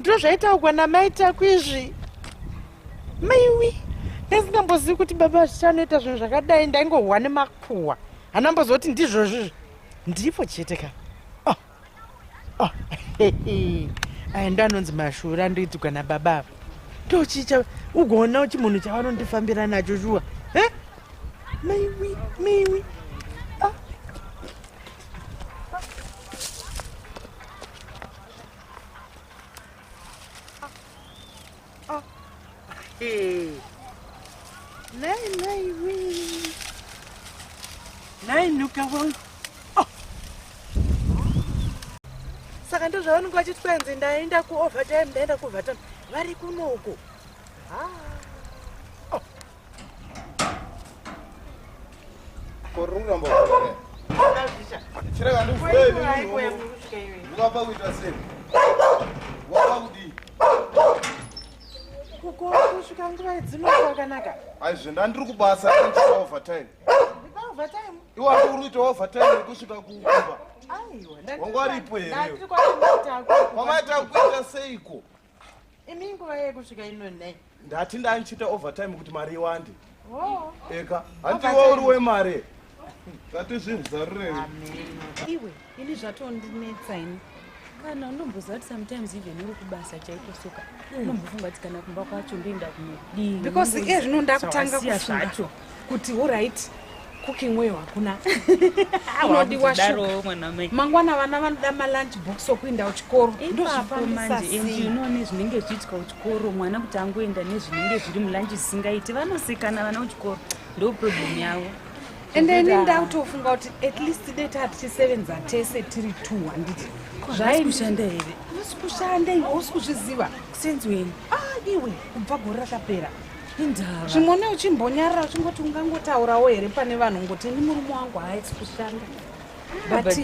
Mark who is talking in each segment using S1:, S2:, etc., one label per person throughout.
S1: ndozvaitaugwa namai taku izvi maiwi ndasingambozivi kuti baba zvichanoita zvinhu zvakadai ndaingohwa nemakuhwa hana mbozoti ndizvozvizvo ndiripo chete ka oh. oh. aya ndo anonzi mashura andoitigwa nababa ava ndochicha ugoona uchi munhu chavanondifambira nacho shuwa eh? maiwi maiwi Nei, nei, wee. Nei, nuka wangu. Oh. Saka ndo zvavanenge vachiti kwenzi ndaenda kuovertime ndaenda kuovertime vari kuno uko. Ah. Oh. kukusvika nguva idzino kwakanaka aizve ndandiri kubasa overtime overtime iwapo uri kuita overtime yekusvika kuumba aiwa wangwaripo here wamaita kuita seiko imi nguva yekusvika ino nei ndati ndandichiita overtime kuti mari iwande oh. eka handiwe uri wemari ngatizvizarurei iwe ini zvatondinetsa ini kana unomboziva kuti sometimes even uri kubasa chaiko soka unombofunga kuti kana kumba kwacho ndoenda kunodii because iye zvino ndakutanga kufunga kuti horit cooking weyo hakuna unodiwa mangwana vana vanoda malunch box okuenda kuchikoro ndozvifambisasinoone zvinenge zvichiitwa kuchikoro mwana kuti angoenda nezvinenge zviri mulunch zvisingaiti vanosekana vana kuchikoro ndo problem yavo and ini ndautofunga kuti at least date hatichisevenza tese tiri two handiti zvaikushanda here usi kushanda iwe usi kuzviziva kusenziweni ah iwe kubva gore rakapera indava zvimone uchimbonyarira uchingoti ungangotaurawo here pane vanhu ngoti ini murume wangu haaisi kushanda ah, but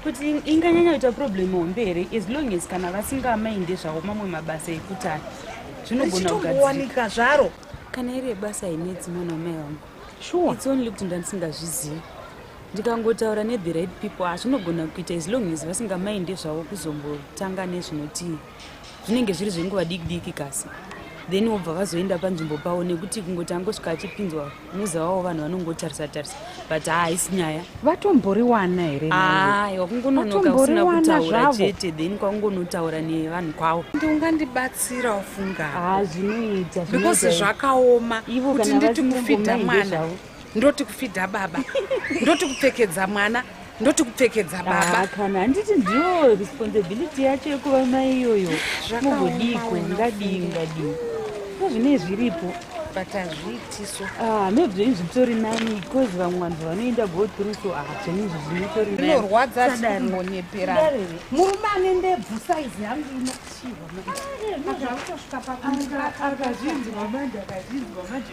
S1: kuti inganyanya kuita problem hombe here as long as kana vasingamainde zvavo mamwe mabasa ekutani zvinogona kugadziwanika zvaro kana iri yebasa inedzi mwana wamai vangu sure it's only kuti ndandisingazvizivi ndikangotaura nethe right people hazvinogona kuita as long as vasingamainde zvavo kuzombotanga nezvinotii zvinenge zviri zvenguva diki diki kasi then wobva vazoenda panzvimbo pavo nekuti kungoti angosvika achipinzwa muza wavo vanhu vanongotarisa tarisa but haa haisi nyaya vatomboriwana here aiwa kungononoka usina kutaura chete then kwakungonotaura nevanhu kwavo ndi ungandibatsira ufunga haa zvinoita because zvakaoma kuti nditi mufidha mwana ndoti kufidha baba ndoti kupfekedza mwana ndoti kupfekedza ah, baba kana handiti ndiyo responsibility yacho yekuva mai iyoyo mugodiko ngadii ngadii nezvinei zviripo but hazviitiso ah, maybe zvenyu zvitori nani because vamwe vanhu vanoenda go through so ah, zvenyu izvi zvinotori inorwadza sikunonyepera murume ane ndebvu saizi yangu inochiwa akazvinzwa manje akazvinzwa manje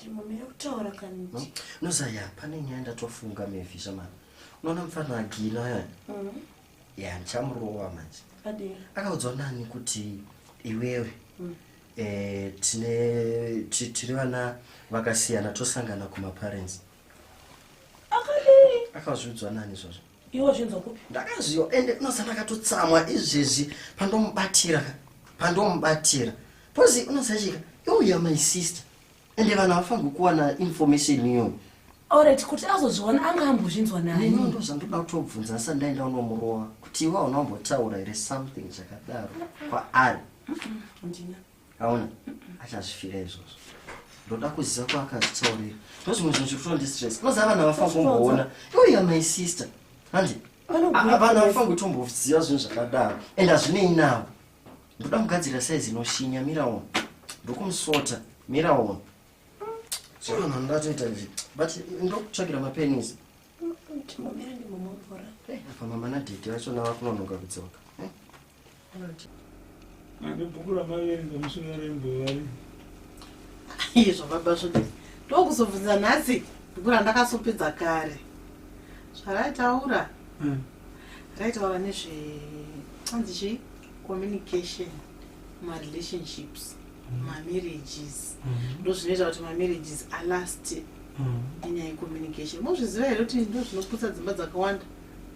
S1: Ndimamira kutaura kaniti. Hmm? No Zaya, pane nyaya ndatofunga Mevi shamani. Unoona mfana agina aya. Mm. Yeah, ndichamurova manje. Adini. Akaudzwa nani kuti iwewe. Mm. Eh, tine tiri vana vakasiyana tosangana kuma parents. Mm. akadii akazviudzwa nani izvozvo iwo zvinzwa kupi ndakaziva ende unoziva ndakatotsamwa izvezvi pandomubatira pandomubatira pozi unozachika youya my sister ende vanhu havafanirwi kuwana information iyoyo orit kuti azozviona anga ambozvinzwa nani ndo zvandoda kutobvunza asi ndaenda unomurova kuti iwe hauna kumbotaura here something zvakadaro kwaari aona achazvifira izvozvo ndoda kuziva kwaakazitsaurira ndozvimwe zvinhu zviri kutondistress unoziva vana vafangoona iuya my sister handi vana vafangotomboziva zvinhu zvakadaro and hazvinei navo ndoda kugadzira saizi inoshinya miraona ndokumusota miraona zvavanhu ndatoita nje but ndokutsvagira mapenis apa mama nadhedhi vachona vakunonoka kudzoka Mabhuku ramaverenga mushure rembovari. Izvo baba zvodi. Ndokuzobvunza nhasi bhuku randakasopedza kare. Zvaraitaura. Hmm. Raitaura nezve hanzi chii? Communication ma relationships. Hmm. Ma marriages. Hmm. Ndozvinoita kuti ma marriages are last. Inyaya communication. Mozviziva here kuti ndozvinoputsa dzimba dzakawanda.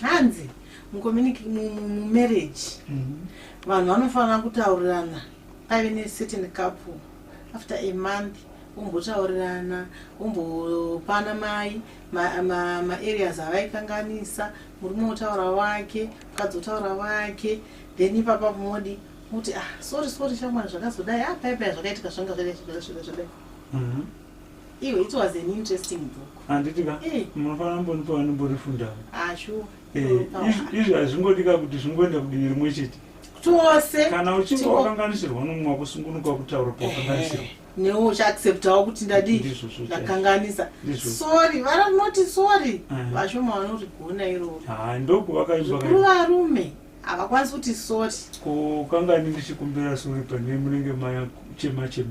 S1: hanzi mumarriage mhm. vanhu vanofanira kutaurirana paive necertain couple after a month vombotaurirana vombopana mai maareas avaikanganisa murume otaura wake mukadzi otaura wake then ipapa modi kuti ah sorry sorry shamwari zvakazodai ah paipai zvakaitika zvanga zvakaitika zvakaitika zvakaitika Iwe, it was an interesting book. Handiti ka? Eh. Munofanira mbonipa vanomborifundawo. Ah, sure. Eh, izvi hazvingodika kuti zvingoenda kudivi rimwe chete. Tose. Kana uchinge wakanganisirwa nomwe wako sungunuka kutaura pawakanganisirwa. Eh, Newo uchaacceptawo kuti ndadii ndakanganisa. Sorry, vara noti sorry. Eh. Vashoma vanorigona iroro. Ah, ndoku vakaimba. Kuri varume. Havakwanisi kuti sorry. Ko kangani ndichikumbira sorry pane munenge maya chema chema.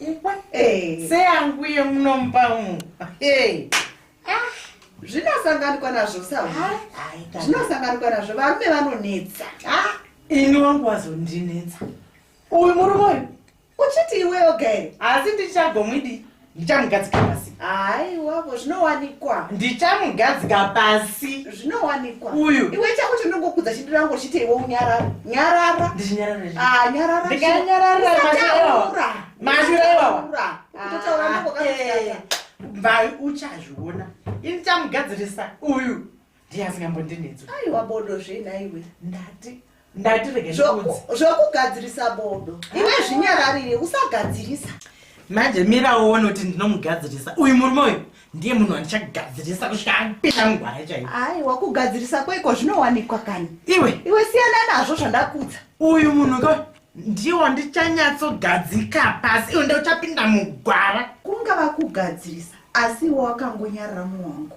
S1: ikwe hey. seyangu ye munomupa umu hey. ah. zvinosanganikwa nazvo sa zvinosanganikwa nazvo varume vanonetsa ah. ini wangu wazondinetsa uyu murume uyu uchiti iwe yoga here asi ndichagomwidi ndichamugadzikira pasi haiwavo zvinowanikwa ndichamugadzika pasi zvinowanikwa uyu iwe chako chinongokudza chindirango chite iwe unyarara nyarara ndichinyararanyararanyarara mashura iwawa mvai uchazviona ini chamugadzirisa uyu ndiye asingambondinetso aiwa bodo zvenaiwe ndati ndati rege zvokugadzirisa bodo iwe ah. zvinyararire usagadzirisa manje mira uone kuti ndinomugadzirisa uyu murume uyu ndiye munhu wandichagadzirisa kusvika apinda mugwara chaiyo ai wakugadzirisa kweiko zvinowanikwa kani iwe iwe siyana nazvo zvandakudza uyu munhu ko ndiye wandichanyatsogadzika pasi iwe ndeuchapinda mugwara kunga vakugadzirisa asi iwe wakangonyarira muwangu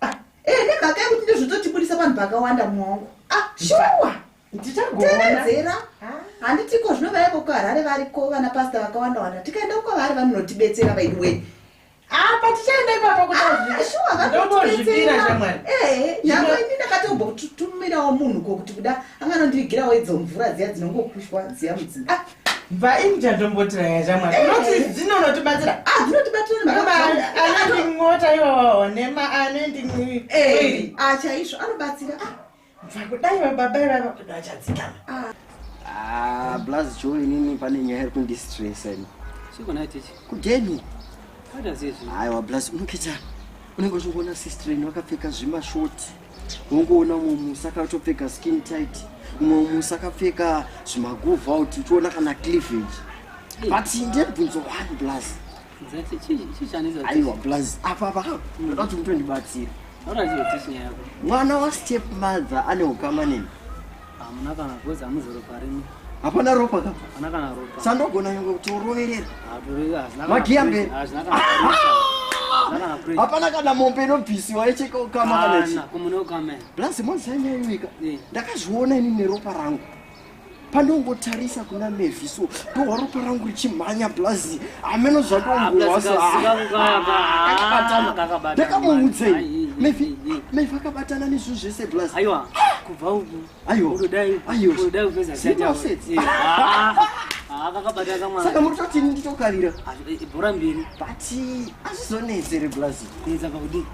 S1: Ah, eh, nemhaka yekuti ndozvototibudisa vanhu vakawanda mwangu ah, shuwa ndichagowedzera handitiko zvino vaiko kuharare variko vana pasta vakawanda wanda tikaenda kukavari vanonotibetsera vaidi wei apa ah, tichaenda ipapa kutazviira ah, shamwari eh, nyangwe ini ndakatombotumirawo munhu ko kuti kuda anganondirigirawo idzo mvura dziya dzinongokushwa dziya mudzimba Vaini chandomboti vaya chamwa tinoti eh. dzinonotibatsira a ah, dzinotibatsiraanendingota iwawawo nema anendingoiri eh, a ah, chaizvo anobatsira a ah, vakudai vababa ivava kuda vachadzikama blaz jo inini pane nyaya iri kundistresa ini kudeni aiwa blaz unokita unenge uchingoona sister ini vakapfeka zvimashoti unongoona umwe musa akatopfeka skin tight umwe musa akapfeka zvimaguvha kuti uchiona kana cleavage but ndebvunzo one plus aiwa plus apa apa ndoda kuti mutondibatsira mwana wastep mother ane ukama neni Hamuna kana because hamuzoro parimi. Hapana ropa ka? Hapana kana ropa. Sandogona nyongo kuti uroverera. Hapana kana. Magia mbe. Hapana kana. Hapana kana mombe inobvisiwa yecheka ukama kana chi. Kumune ukama. Blaz mwanza nyanyika. Eh. Ndakazviona ini neropa rangu. Pandongotarisa kuna Mevi so ndohwa ropa rangu richimhanya blaz. Ameno zvandongohwasa. Ndakamuudza. Mevi. Mevi akabatana nezvo zvese blaz. Aiwa. saka muri toti ini nditokarira bhora mbiri but azvizonetse reblazi kuedza pakudii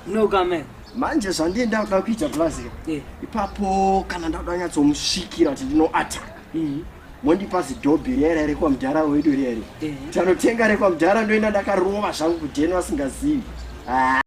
S1: no kame manje zvandiye ndakuda kuita blazi eh. ipapo kana ndakuda nyatsomusvikira kuti ndinoataka mhm. mondipa zidhobhi riya riya rekwa mudhara wedu riya riya eh. tanotenga rekwa mudhara ndoenda ndakarova zvangu kudheni vasingazivi ah.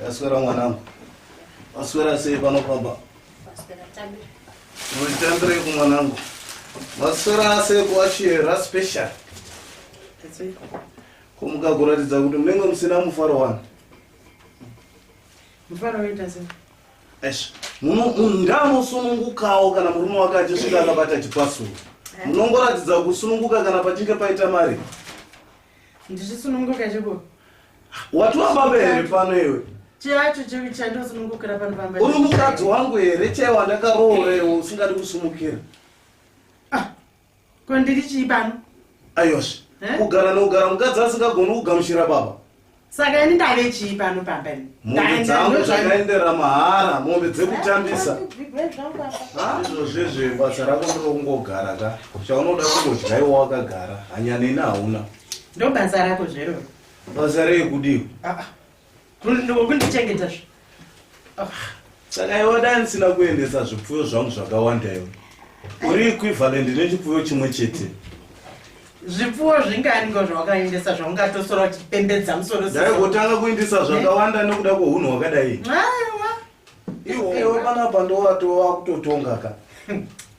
S1: Ndaswera mwanangu. Waswera sei pano pamba? Waswera tambi. Unotambira ku mwanangu. Waswera sei kwa chiera special. Kumuka kuratidza kuti munenge musina mufaro wani. Mufaro wenda sei? Eish, ndamusunungukawo kana murume wake achisvika akabata chipasuro. Eh. Munongoratidza kusununguka kana pachinge paita mari. Ndizvisununguka cheko. Wati wababa here pano iwe? Chacho cheko chandosunungukira pano pamba. Uri mukadzi wangu here chaiwo wandakaroora iwe usingadi kusumukira? Ah. Ko ndiri chii pano? Ayosha. Eh? Kugara nokugara mukadzi asingagoni kugamuchira baba. saka ini ndave chii pano pamba ini mombe dzangu zvakaendera mahara mombe dzekutambisa izvozvezve basa rako ndokungogara ka chaunoda kungodya iwo wakagara hanyaneni hauna ndobasa rako zveroo basa rei kudiwa ah, ah. kundichengeta zve saka iwe dai ndisina kuendesa zvipfuyo zvangu zvakawanda iwe uri equivalent nechipfuyo chimwe chete zvipfuwo zvinganiko zvawakaendesa zvaungatosora uchipembedza musoro dai kutanga kuindisa zvakawanda nekuda kwohunhu hwakadai aiwa iwewe panapa ndowatova kutotonga ka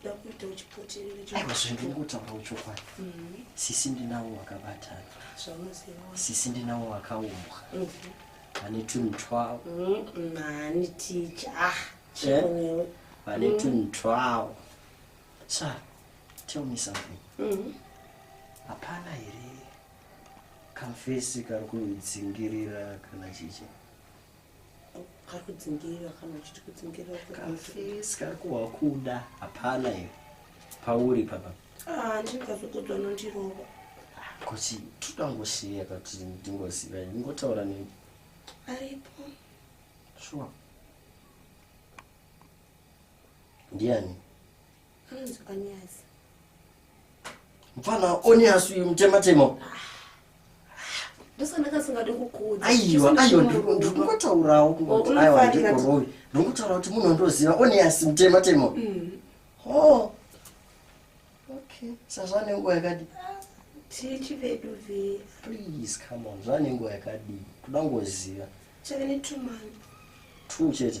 S1: ndakuita uchipoterera aiwa zvandiri kutaura uchokwadi mm-hmm. sisi ndinawo wakabatana sisi ndinawo wakaumbwa mm-hmm. vane tunhu twawo mm-hmm. mani ticha ah, eh? vane mm. tunhu twawo sa tell me something hapana here kamfesi kari kudzingirira kana chichi kakudzingirira kana uchiti kudzingirira kafesi kari kuwakuda hapana iwe pauri papa ah, ndingazokudzwa nondirova kuti totangosiya kati ndingoziva ndingotaura neni aripo shuwa ndiani mfana onias uyu mutematema aiwa aiwa ndingotaurawo kungotiaiwa ndikorovi ndingotaura kuti munhu andoziva onias mutematema mm. o okay sazvane nguva yakadii tichi vedu ve please come on zvane nguva yakadii toda ngoziva chave netumani two chete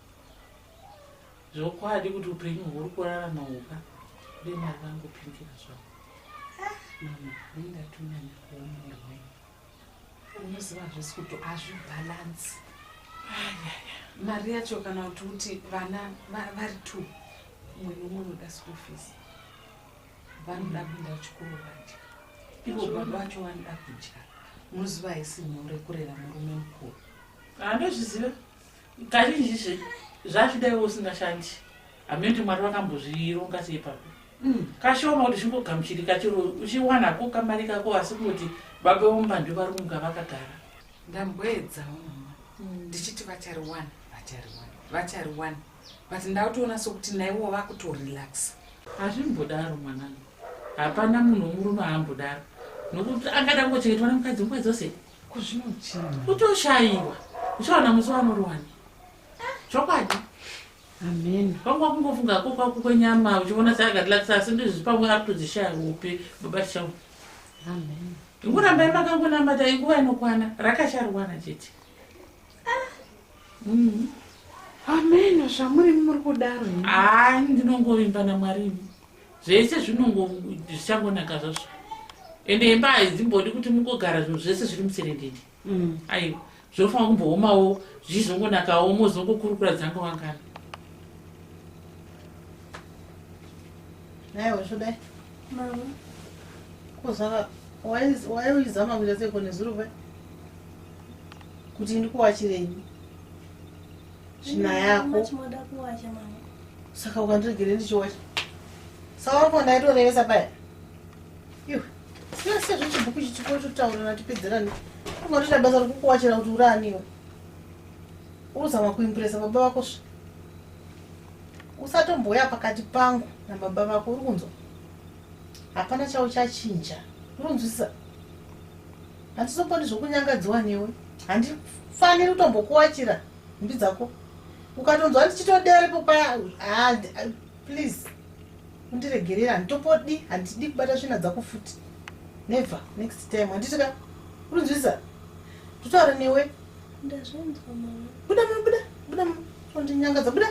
S1: zvokwadi kuti upenyu huri kurarama uka ude mari vangopindira zvavo ndatunanya kuomuri wenyu unoziva zvese kuti hazvibhalansi mari yacho kana kuti uti vana vari two umwe nomwe unoda school fees vanoda mm. kuenda kuchikoro vadya ivo baba vacho vanoda kudya unoziva haisi nyore kurera murume mukuru handozviziva kazhinji zve zvachida iwe usingashandi hameno kuti mwari vakambozvironga sei papi mm. kashoma kuti zvingogamuchirika chero uchiwana ko kamari kako asi kungoti baba vomba ndo vari kunga vakagara ndamboedzawo mama mm. ndichiti vachariwana vachariwana vachariwana but ndautoona sokuti naiwo vakutorelaxa hazvimbodaro mwanangu hapana munhu womurume aambodaro nokuti angada kungochengetwa nemukadzi nguva dzose kuzvinochii utoshaiwa uchaona musi wamuruwani chokwadi amen kwangwa kungofunga ko kwako kwenyama uchiona seakatilatisa asi ndizvi pamwe ari kutodzishaya upi baba tichau amen ingurambai makangonamata inguva inokwana rakasharuwana chete Mhm. amen zvamuri muri kudaro imi. haa ndinongovimba namwari imi zvese zvinongo zvichangonaka zvazvo ende imba haidzimbodi kuti mungogara zvinhu zvese zviri muserendende mm. aiwa zvinofanira kumboomawo zvichizongonakawo mozongokurukura dzange wangana aiwa zvodai kozaka waiuizama kuita seko nezuruva kuti ndikuwachirei Zvina yako. Saka ukandiregere ndichiwacha. Saka wako ndaitorevesa paya. Yuh. Sina sezvo chibhuku chichiko chotaurana tipedzerane. Unotoita basa rokukuwachira kuti uraaniwe. Uruzama kuimpresa baba vako svi. Usatomboya pakati pangu nababa vako uri kunzwa. Hapana chauchachinja. Uronzwisisa? Handizombodi zvokunyangadziwa newe. Handifaniri kutombokuwachira nhumbi dzako. Ukatonzwa ndichitodere popa ah, ah, please undiregerera handitopodi handidi kubata svina dzako futi. Never next time handiti ka unonzwisa totaura newe. Ndazvinzwa mama. Buda mama buda buda mama tondinyangadza buda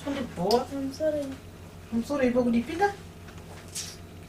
S1: tondibhowa. I'm sorry. I'm sorry ipo kudipinda.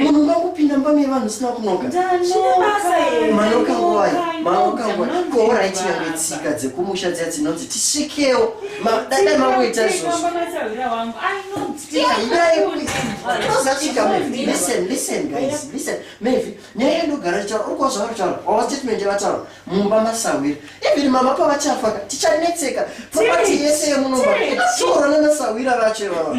S1: munhu makupinda mbame vanhu usina kunokamanoka nguvai manoka nguvai koorai tinyangwe tsika dzekumusha dziya dzinonzi tisvikewo dada mangoita izvozvoaizachikamevi nyaya yandogara ritaura uri kuva zvavari taura wava statement yavataura mumba masahwira even mama pavachafaka tichanetseka propati yese yemunomba tiorana nasahwira vacho ivava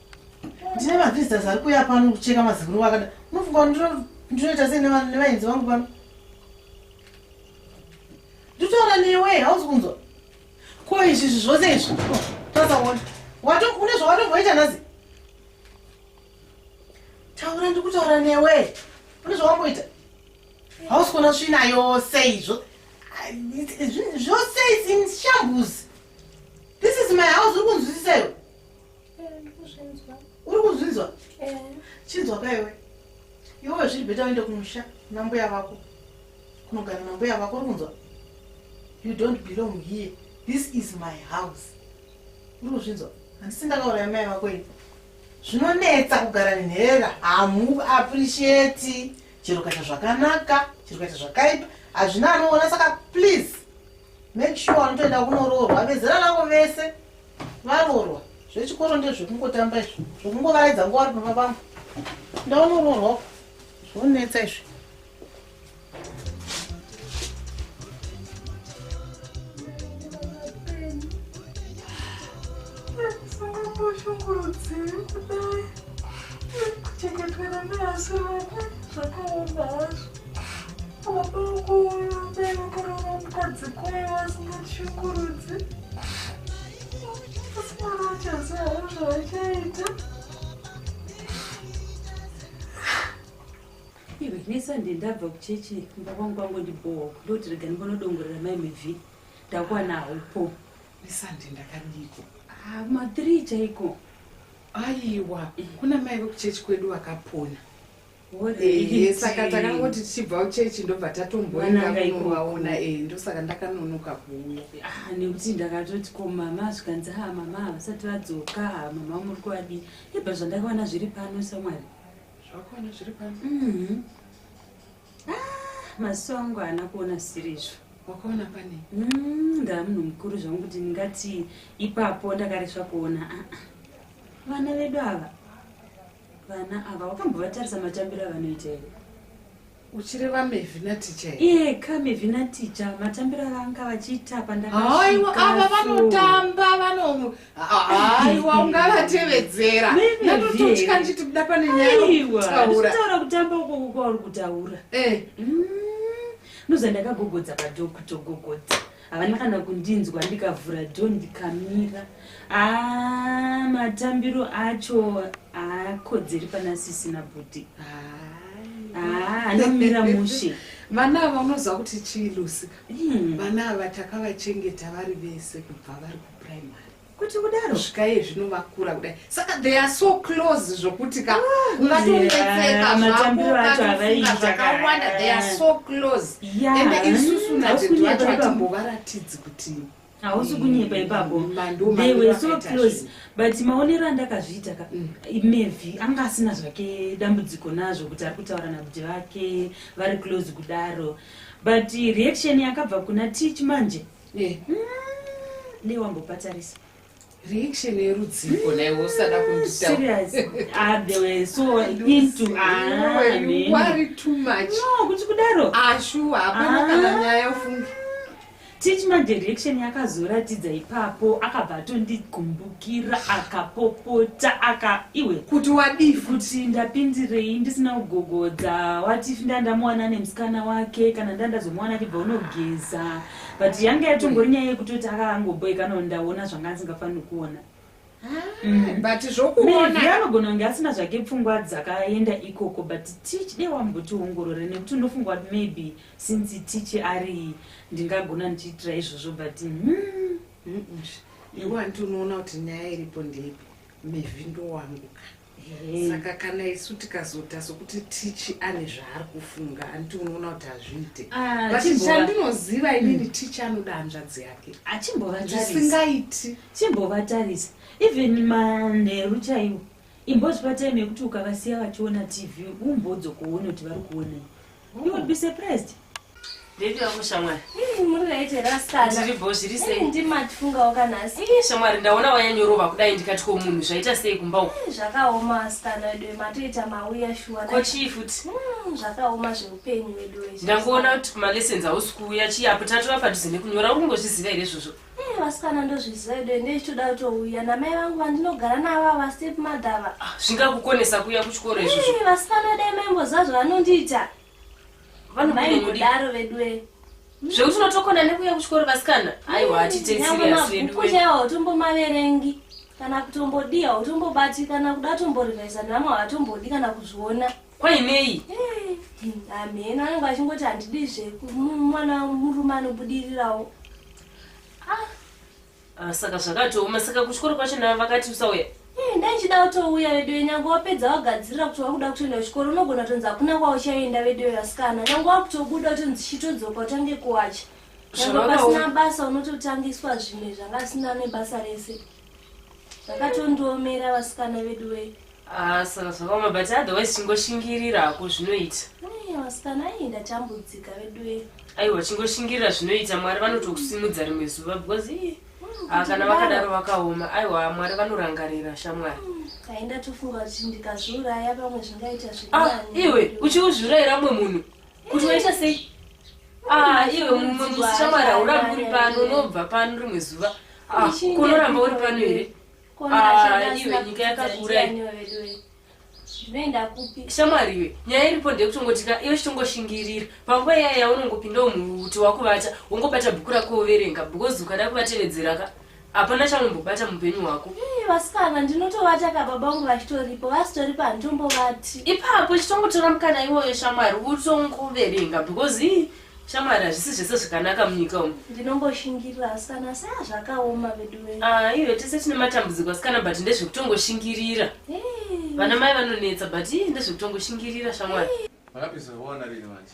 S1: ndine mavisitors ari kuya pano kucheka maziguru wakada unofunga ndinoita sei nevaenzi vangu pano nditaura newe hausi kunzwa ko izvi izvi zvose izvi tasaona une zvawatomboita nhasi taura ndikutaura newe une zvawamboita hausi kuona svina yose izvo zvose isin shambuzi this is my house uri kunzwisisa iwe uri kuzvinzwa chinzwa kaiwe iwewe zviri bheta uende kumusha nambuya vako kunogara nambuya vako uri kunzwa you don't belong here this is my house uri kuzvinzwa handisi ndakauraya mai vako ini zvinonetsa kugara nenhera hamu appreciate chero kaita zvakanaka chero kaita zvakaipa hazvina anoona saka please make sure anotoenda kunoroorwa vezera rako vese Varorwa zvechikoro ndezvekungotamba izvi zvekungovaedza nguva vari pamba pangu ndaonororwa zvonetsa izvi kuchengetwera neasiroko zvakaoma hazvo iwe nesunday ndabva kuchechi kumba kwangu kwangu ndibhowa ndoti rega ndimbanodongorera mai mivhi ndakuwana haupo nesunday ndakadiko ah, mathree chaiko aiwa kuna mai vekuchechi kwedu vakapona saka takangoti tichibva uchechi ndobva tatomboendakunovaona e eh, ndosaka ndakanonoka kuuya ah, nekuti ndakatoti ko mama zvikanzi ha ah, mama havasati vadzoka ah, mama muri kuvadii ibva zvandakawana zviri pano samwari zvakawana zviri pano mhm. maziso angu haana kuona zvisiri izvo wakaona pane mm, ndaa munhu mukuru zvangu kuti ndingati ipapo ndakaresva kuona vana vedu ava vana ava wakambovatarisa matambiro avanoita here uchireva mevhina ticha iye ka mevhina ticha matambiro avanga vachiita pandaaaiwa ava vanotamba vanoaiwa ungavatevedzera natototya ndichiti buda pane nyayataura kutamba ukoko kwauri kutaura eh. mm. noza ndakagogodza padhokutogogodza havana kana kundinzwa ndikavhura do ndikamira a ah, matambiro acho akodzeri pana sisina bhuti ah, anomira mushe vana ava unoziva kuti chii lusika hmm. vana ava takavachengeta vari vese kubva vari kuprimary kuti kudaro svika iye zvino vakura kudai saka they are so close zvokuti ka ah, ungatonetseka zvakoaofunga zvakawanda they are so close ende isusu natete vacho vatimbovaratidzi kuti hausi kunyepa ipapo they were so close but maonero andakazviita ka mm. maybe anga asina zvake dambudziko nazvo kuti ari kutaura nabuti vake vari close kudaro but reaction yakabva kuna teach manje Eh, mm, dei wambopatarisa reaction yerudziko naye wosada kunditauraserious so into awari too much no kuti kudaro ashuwa ah, hapana ah. kana nyaya ufunge titi madirection yakazoratidza ipapo akabva atondigumbukira akapopota aka iwe kuti wadii kuti ndapindirei ndisina kugogodza wati ndandamuwana nemusikana wake kana ndandazomuwana achibva unogeza but yanga yatongori nyaya yekutoti akangoboekanawo ndaona zvanga asingafaniri kuona ah, mm. but zvokuona anogona kunge asina zvake pfungwa dzakaenda ikoko but tich dei wambotiongorore nekuti unofunga kuti maybe since tich ari ndingagona ndichiitira izvozvo but hmm. iwanti unoona kuti nyaya iripo ndeipi mivhindo wangu ka saka kana isu tikazoita sokuti tichi ane zvaari kufunga anditi unoona kuti hazviite ah, but chandinoziva inini mm. tichi anoda hanzvadzi yake achimbovasingaiti chimbovatarisa even manheru chaiwo imbozvipa time yekuti ukavasiya vachiona tv umbodzokoona kuti vari kuonei You would be surprised. Baby wangu shamwari. Hmm, muri right here asikana. Zviri bo zviri sei? Hmm, Ndimatifungawo kana asi. Eh, shamwari ndaona wayanyorova kudai ndikati ko munhu zvaita sei kumba uko. Hmm, zvakaoma asikana wedu matoita mauya shuwa. Ko chii futi? Hmm, zvakaoma zveupenyu wedu wezvo. Ndangoona kuti kuma lessons hausi kuuya chii apo tatora padhuze nekunyora uri kungozviziva here izvozvo? Eh, vasikana ndozviziva edu ende ichitoda kutouya namai vangu vandinogara navo ava step mother ava ah, zvingakukonesa kuuya kuchikoro izvozvo eh, vasikana dai maimboziva zvavanondiita vanmai kudaro veduwe zvekuti unotokona nekuuya kuchikoro vasikana aiwa hatiteisiriyasvedukuchaiwa utombomaverengi kana kutombodii hautombobatikana kuda tomborivhaisa nevamwe havatombodi kana kuzviona kwainei hameno anenge achingoti handidi zve mwana murume anobudirirawo ah. ah, saka zvakatooma saka kuchikoro kwacho navo vakati usauya eh, ndaichida kutouya veduwe nyange wapedza wagadzirira kuti wakuda kutoenda kuchikoro unogona kutonzi hakuna kwauchaenda veduwe vasikana nyange wakutobuda kutonzi chitodzoka utange kuwacha nyange pasina basa unototangiswa zvimwe zvanga asina nebasa rese zvakatondiomera vasikana vedu we ah, saka zvakaoma but otherwise chingoshingirira hako zvinoita vasikana ayi ndachambudzika vedu we aiwa chingoshingirira zvinoita mwari vanotokusimudza rimwe zuva because ii hmm, ah, kana vakadaro vakaoma aiwa mwari vanorangarira shamwari hmm, aindatofunga kuti ndikazviuraya pamwe zvingaita zviriiwe ah, uchiuzviuraira mwe munhu kuti waita sei ah, iwe mushamwari hauramba uri pano unobva pano rimwe zuva ah, kunoramba uri pano here ah, iwe nyika yakakura shamwari iwe nyaya iripo ndeyekutongotika iwe chitongoshingirira panguva iyaya yaunongopindawo muti wakuvata wongobata bhuku rako overenga because ukada kuvatevedzeraka hapana chaunombobata mupenyu hwako eh, vasikana ndinotovata ka baba vangu vachitoripo vasitoripo handitombovati ipapo chitongotora mukana iwoyo shamwari utongoverenga because ii shamwari hazvisi zvese zvakanaka munyika umu ndinongoshingirira asikana saa zvakaoma vedu ve ah, iwe tese tine matambudziko asikana but ndezvekutongoshingirira eh. vana mai vanonetsa but ii ndezvekutongoshingirira shamwari eh. makapisaona rini manje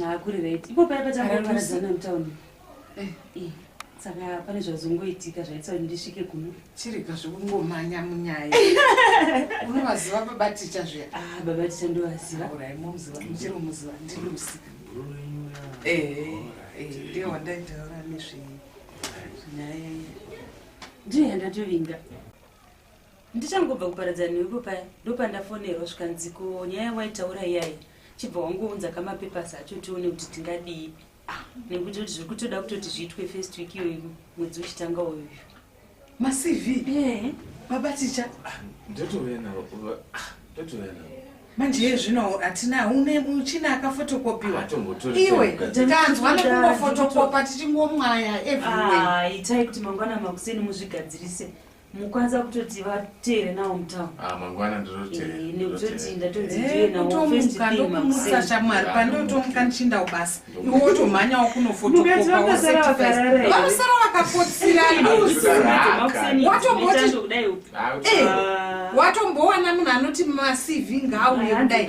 S1: Hakuri mm, right. Ipo paya patangoparadzana mutown. Eh. eh. Saka pane zvazongoitika zvaitsa kuti ndisvike kuno. Chirega zvokungomhanya munyaya. Unovaziva baba ticha zviya. Ah, baba ticha ndovaziva. Urai momuziva, muchiri muziva ndilusi. Eh, eh, ndiye wandaitaura nezve nyaya. Ndiye yandatovinga. ndichangobva kuparadzana newepo paya ndopandafonerwa zvikanziko nyaya waitaura iyayi chibva wangounza kamapepers acho tione kuti tingadii ah, nekuti kuti zviri kutoda kutoti zviitwe first week iyoyi mwedzi uchitanga uyu macv eh. baba ticha ah, ndotouya navo ah, ndotouya navo manje iye zvino hatina une muchina akafotokopiwa iwe tanzwa nekungofotokopa tichingomwaya everywhere itai kuti mangwana makuseni muzvigadzirise mukwanisa kutoti vateere nawo mutauro ah, mangwana ndinoteeranekutoti eh, ndatonzi eh, ndiwe nawomusa shamwari pandotomuka ndichinda ubasa iwe wotomhanya wakunofotokopausara vakakotsira watombowana munhu anoti macv ngaauye kudai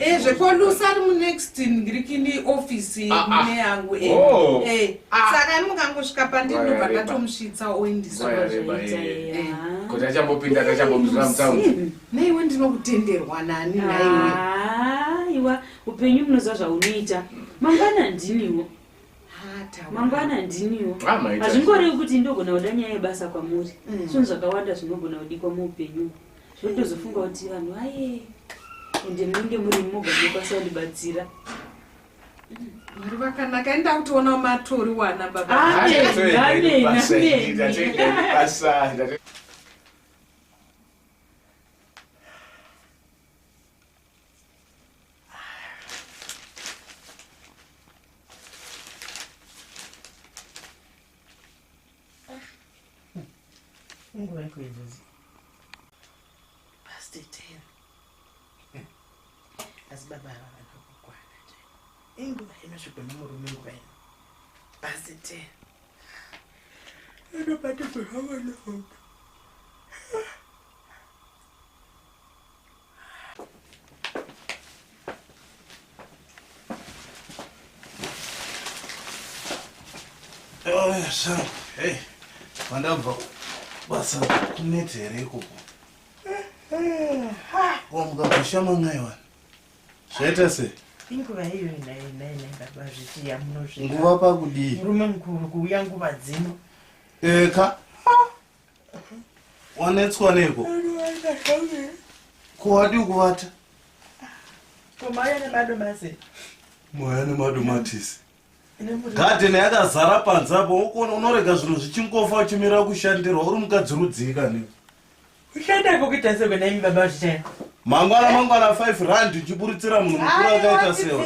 S1: Eh, zvekwalusa ari munext ndiri kini ofisi ah, ah. mune yangu eh, oh. eh, ah. saka ani mukangosvika pandinobva ndatomusvitsa oindisakoti achambopinda tachambomuzvira mutaun naiwe ndinokutenderwa nani naiwe iwa upenyu munoziva zvaunoita mangwana ndiniwo mangwana ndiniwo hazvingorevi kuti ndogona kuda nyaya yebasa kwamuri mm. zvinhu zvakawanda zvinogona kudikwa muupenyu zvotozofunga kuti vanhu vaye ende munenge muri moga mokwanisa kundibatsira mwari vakanaka enda kutoona matori wana baba Mungu wako izvozvi past ten asi baba ava vanokukwana inguva inosvikwa nomurume nguva ino past ten anobatirwa zvavana hope Hey, mandabva basa kunete here ikoko wamukabvisha mamai wani zvaita sei inguva iyo inainainangaba zvichiya munozvinguva pakudii murume mukuru kuuya nguva dzino eka wanetswa neiko ko wadii kuvata mwaya nemadomatisi gadhen yakazara panze apo ukuona unorega zvinhu zvichingofa uchimira kushandirwa uri mukadzi rudzii kani mangwana mangwana 5 rand uchiburitsira munhu mukuru akaita sewa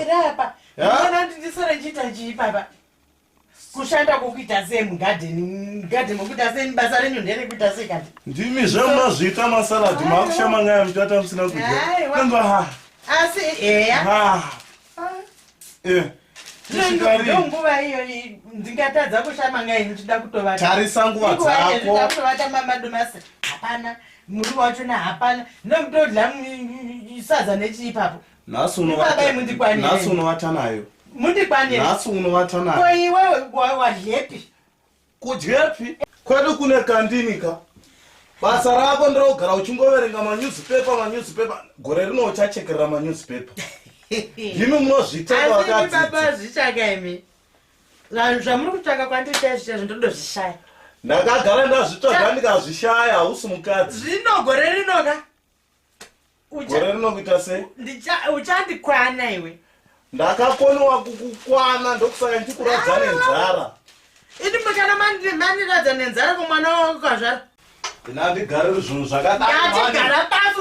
S1: kushanda kwokuita sei mugadheni mugadheni mokuita sei basa renyu nderekuita sei kati ndimi zvemunozviita masaladhi maakushama nyaya muchata musina kudyaamba ha asi eya ha e nguva iyo ndingatadza kushama nyaya ndichida kutovatarisa nguva dzakotovata mamadomasi hapana muriwo wachona hapana ndokutodya sadza nechii ipapo nhasi unovata nayo mundikwanirnhasi unovata nayo ko iwe wadyepi kudyepi kwedu kune kandinika basa rako ndrogara uchingoverenga manewspaper manewspaper gore rino uchachekerera manewspaper imi munozvitaababa zvichaka imi vanhu zvamuri kutsvaka kwandiita zvichazvo ndodo zvishaya ndakagara ndazvitsvaga ndikazvishaya hausi mukadzi zvino gore rinoka gore rino kuita sei uchandikwana iwe ndakakoniwa kukukwana ndokusaka ndikuradza nenzara ini mukana mandiradza nenzara kumwana wako kazvara ina ndigariri zvinhu zvakadaatigara pasi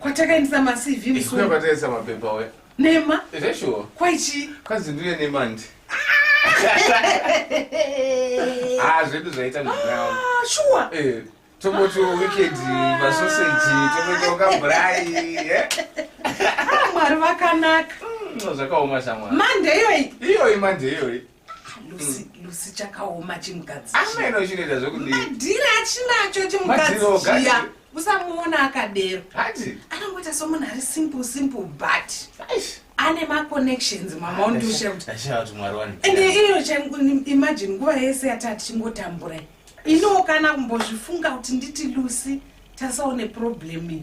S1: kwatakaendesa macv musuo kwatakaendesa mapepa we nema zveshuwa kwaichii kwanzi ndiuye nemandi ah zvedu zvaita ndinawo ah, shuwa eh tomoti weekend masoseji tomoti wakabhurai eh? ah, mwari vakanaka mm, zvakaoma shamwari mande iyoyi iyoyi mande iyoyi lusi chakaoma chimugadziamaino chinoita zvekumadhiri achinacho chimugadzichiya usamuona akadero anongoita somunhu ari simple simple but ane maconnections mama undiusheutande iyo imagine nguva yese yata tichingotambura iniwo kana kumbozvifunga kuti nditi lusi tasaone problemi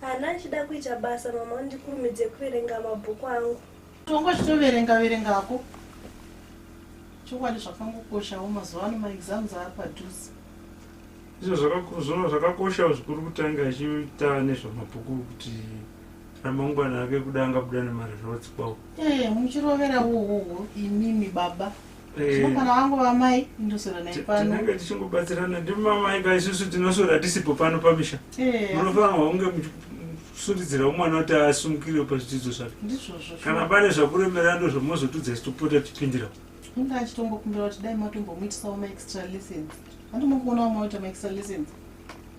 S1: Haana achida kuita basa mama undikurumidze kuverenga mabhuku angu. Tongo chitoverenga verenga hako. Chokwadi zvakangokoshawo mazuva ano maexams ari padhuze. Izvo zvakakuzvona zvakakoshawo zvikuru kutanga achita nezvamabhuku kuti ramangwana ake kuda angabuda nemaresults kwawo. Eh muchirovera wowowo imimi baba. Kana vangu vamai ndosora naye pano. Tinenge tichingobatsirana ndimamai ka isusu tinosora tisipo pano pamisha. Eh. Munofanirwa kunge muchisundidzira umwana kuti asumukire pazvidzidzo zvake. Ndizvozvo. Kana pane zvakuremerera ndozvamozotudza isitopota tipindira. Inga achitongokumbira kuti dai matombomuitisawo maextra lessons. Andimokuona vamwe vaita maextra lessons.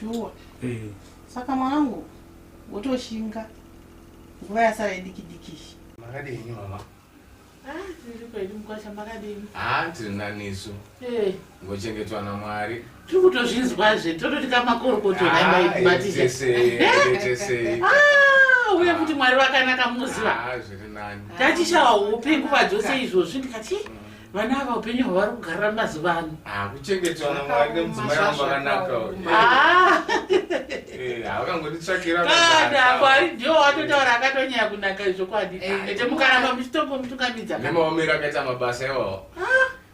S1: shuwa eh. saka mwanangu wotoshinga nguva yasara idiki dikishi makadini mama haa tiri nanisu eh. ngochengetwa namwari tiri kutozvinzwazve tototi kamakorokototesei ah, ah, uye kuti mwari vakanaka muziva ah, tachishawa upe nguva dzose izvozvi ndikati mm. vana ava upenyu hwavari kugarira mazuva ano ah, kuchengetwa namwari nemudzimai vangu vakanaka ah. eh, havakangonditsvakirana mwari ndiwo watotaura akatonyaya kunaka izvokwadi eh, ah, ete mukaramba muchitongo mutungamidza nemaomero akaita mabasa iwawo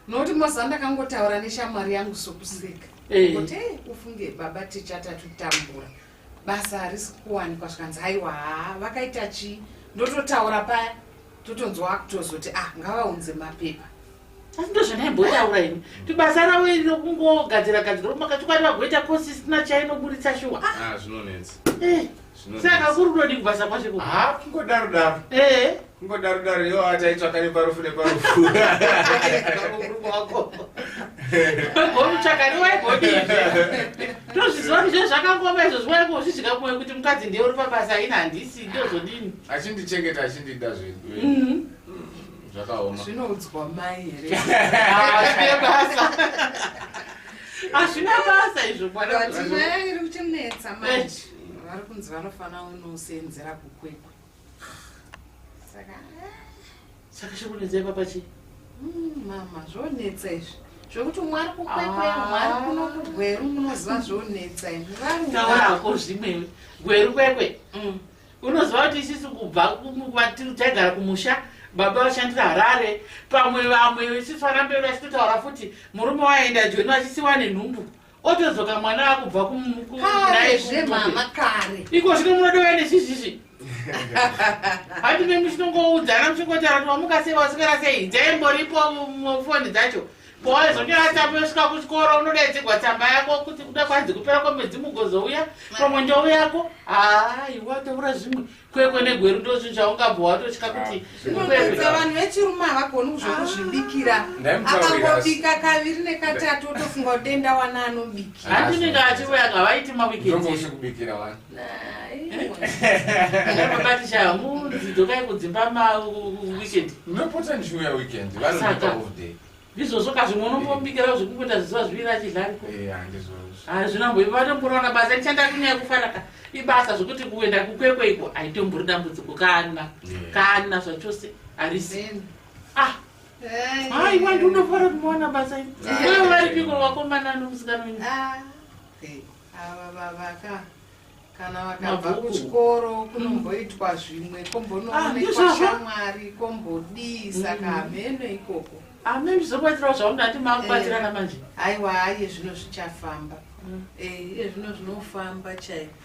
S1: nokuti mazuva ndakangotaura neshamwari yangu sokuseka kuti ufunge baba tichatatu tambura basa harisi kuwanikwa zvikanzi haiwa haa vakaita chii ndototaura paya totonzwa akutozoti ah ngavaunze mapepa asi ndozvandaimbotaura ini kuti basa ravo iri rokungogadzira gadzira kumaka chokwadi vagoita kosi isina chainoburitsa shuwa ah, ah, zvinonetsa eh, saka kuri kudodii kubasa kwacheko haa ah, kungodaro daro ee eh. Kungodaro daro yo ataitsvaka neparufu neparufu. Gomutsvaka riwai godizve. Tozviziva kuti zvezvakangoma izvo zviwai kuzvidya kumwe kuti mukadzi ndiye uri pabasa ini handisi ndozodini. Achindichengeta achindida zvedu. Mhm. Zvakaoma. Zvinoudzwa mai here? Hazvine basa. Hazvina basa izvo mwana. Vati nyaya iri kuchinetsa manje. Vari kunzi vanofanira unosenzera kukwekwe. saka chakunetsai papa chii hmm, mama zvonetsa izvi zvekuti umwe ari kukwekweya ah. umwe ari kuno kugweru munoziva zvonetsa izvitaurako zvimwewe gweru kwekwe hmm. unoziva kuti isisi kubva kwatiri taigara kumusha baba vashandira harare pamwe vamwe isisi varambe vachitotaura futi murume waenda joni vachisiwa nenhumbu otodzoka mwana akubva kunaizve mama kare iko zvino munodova nezvizvizvi hati mimi chinongoudzana muchingotaura kuti wamuka sei wasikana sei dzaimboripo foni dzacho pawazonyora tsamba yosvika kuchikoro unodaidzigwa tsamba yako kuti kuda kwanzi kupera kwemwedzi mugozouya pamwe ndou yako aiwa taura zvimwe kwekwe negweru ndozvinhu zvaungabva watotya kuti kukwekwe vanhu vechirume havagoni zvekuzvibikira akangobika kaviri nekatatu otofunga kuti denda wana anobikira handinenge achiuya ngavaiti mawikendikubikira wani abatishaa munzi dzokai kudzimba maweekend unopota ndichiuya weekend vanoipa off day ndizvozvo ka zvimwe unombobikira zvekungoita zvizuva zviviri achidlariko hazvina mbo vatomborona basa ndichanda kunyaya kufara ka ibasa zvekuti kuenda kukwekwe iko haitombori dambudziko kana kana zvachose harisi ah hai wandi unofara kumaona basa iwe varipiko vakomana nomusikana wenyu ah, ava vavaka kana vakabva kuchikoro mm. kunomboitwa zvimwe kombonoonekwa ah, shamwari kombodii saka mm. hameno ikoko amene zvokubatsirawo zvaundati makubatsirana eh, manje aiwa aiye zvino zvichafamba mm. eh, iye zvino zvinofamba chaiko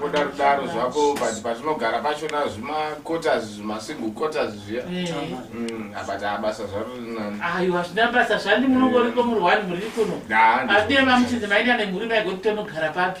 S1: kudarudaro zvako but patinogara pachona zvimakotas zvimasingle cotas zviya but abasa zvaro rinani ayo hazvina basa zvandi munongoriko muri one muri kuno adema muchinzi maida nemhuri maigoti tonogara papi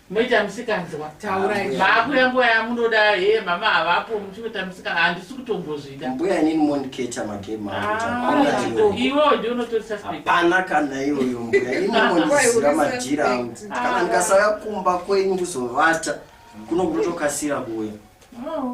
S1: Moita musikanzwa. Taurai. Maakuya nguva yamunoda hee mama havapo muchinoita musika handisi kutombozvida. Mbuya inini mondiketa magame ah, iwo ndi unotorisa hapana kana iyoyo mbuya ini mondisiira madhira angu kana ah. ndikasauya kumba kwenyu kuzovata kuno kutokasira kuuya. Oh.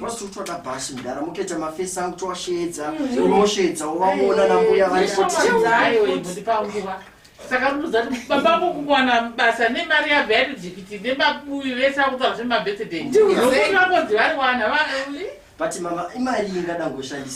S1: Wasi utoda basi mdara mutoita mafesi angu towasheedza unosheedza mm. uvaona nambuya varikotiayoibudipanguva saka ruza ti baba ko kuwana basa nemari yabva yati jikiti nemabuyi vese akutaura zvemabirthday ndokuti vakonzi vari wana but mama imari ingada ngoshandisa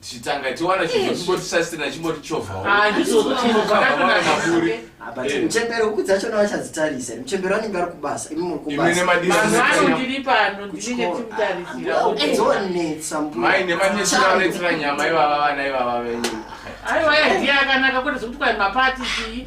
S1: tichitanga tiwana chinhu chimboti sasina chimboti chovhawo ah, ah, eh. muchembere huku dzachona vachadzitarisa muchembere anenge ari kubasa imi muri kubasaanondiri pano ndinenge timutarisiraonetsa mai nematesiraonetsera nyama ivava vana ivava venyu aiwa yadiya akanaka kuti zvekuti kwai mapati chii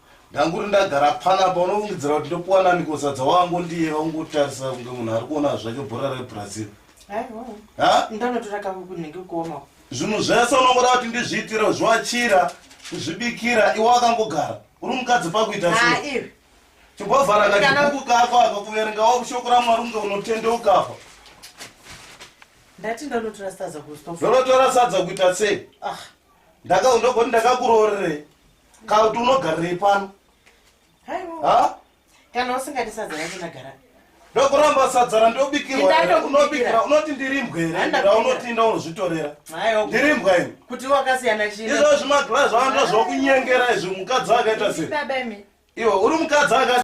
S1: ndanguri ndagara pfanapa unofungidzira kuti ndopuwa nani kosadza wangu ndiye vaungotarisa kunge munhu ari kuona zvake bhora rebrazil zvinhu zvese unongoda kuti ndizviitire kuzviwachira kuzvibikira iwe akangogara uri mukadzi pakuita chimbovhara kachibuku kako aka kuverengawo shoko ramwari kunge unotendeukafa ndati ndanotora sadza kustonotora sadza kuita sei ah. ndakaundogoti ndakakuroorerei kana kuti unogarirei pano kana usingati sadza racho ndagara ndokuramba sadza randobikirwaunobikira unoti ndirimbwa here raunoti inda unozvitorera ndirimbwa ini kuti wakasiyana chii izvozvi maglazi aa ndozvokunyengera izvi mukadzi akaita sei iwe uri mukadzi aka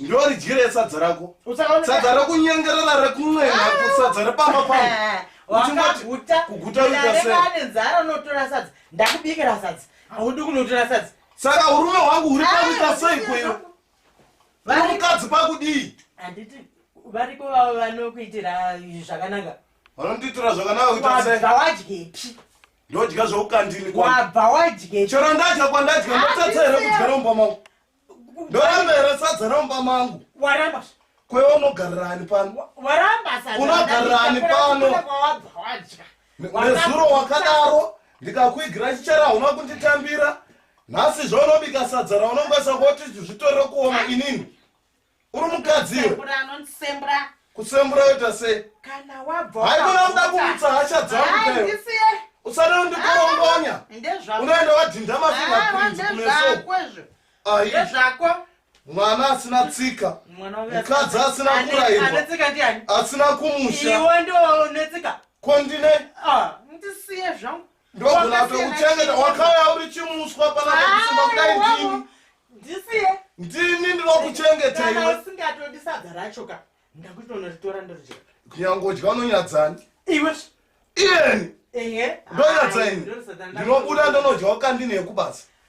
S1: ndoridyire sadza rako sadza rekunyengerera rekun'ena ah! sadza repamba pangu eh, wakaguta kuguta ane nzara unotora sadza ndakubikira sadza haudi kunotora sadza saka urume hwangu huri pakuita ah, sei kweyo mukadzi pakudii handiti varipo vavo vanokuitira zvakanaka vanondiitira zvakanaka kuita sei zvawadyepi ndodya zvoukandini wabva wadyepi chero ndadya kwandadya ndotatsa here kudya romba mangu ndoramba here sadza ramumba mangu waramba kwaiva unogarirani pano waramba sadza unogarirani pano nezuro wakadaro ndikakuigira chichera hauna kunditambira nhasi zvaunobika sadza raunongwesa koti zvitorere kuoma inini uri mukadzi iwe Kusembura anondisembura. kusembura yoita sei Kana wabva haikona uda kumutsa hasha dzangu Hayi, chaiwo ndisiye. usada undikorongwanya Ndezvako. unoenda wadhinda Hawa, mafingaprint kumeso ndezvako izvo. ayi Ndezvako. mwana asina tsika Mwana uya- Mukadzi asina Ane- kurayirwa. Anetsika ndiani? asina kumusha Iwe ndiwo unetsika. ko ndine Ah, ndisiye zvangu. ndogona kuchengeta wakauya uri chimuswa panakusimba kudai ndini ndisiye ndini ndinokuchengeta iwe usingatodi sadza racho ka ndakutoona ritora ndorija kunyangodya unonyadzani iwe iyeni ndonyadzaini ndinobuda ndonodya wakandine yekubasa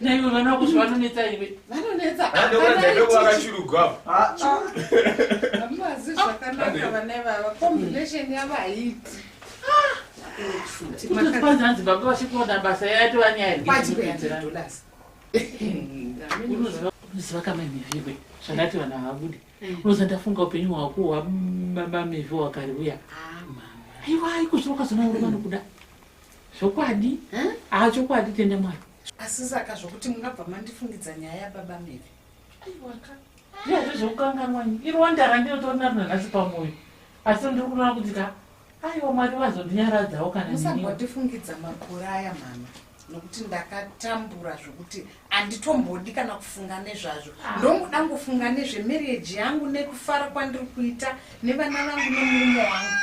S1: naiwe vana vako zvavanonetsa iwe vanonetsa amazi zvakanaka vana ivava combination yavo haiti kwanzi hanzi baba vachikuona basa yaitovanyaiunoziva kama mivhiwe zvandati vanhu havabude unoza ndafunga upenyu hwako hwababa mivhi wakari uya aiwa ikuzviro ukazona uri vanokuda zvokwadi haa chokwadi tende mwari asi saka zvokuti mungabva mandifungidza nyaya yababa meve aiwaka iyazvo zvekukanganwanyi irwanda randinotori naro nanhasi pamwoyo asi ndiri kunoona kuti ka aiwa mwari vazondinyaradzawo kana musambondifungidza makore aya mama nokuti ndakatambura zvokuti handitombodi kana kufunga nezvazvo ah. ndongoda ngofunga nezvemarriage yangu nekufara kwandiri kuita Nevana vangu nemurume wangu.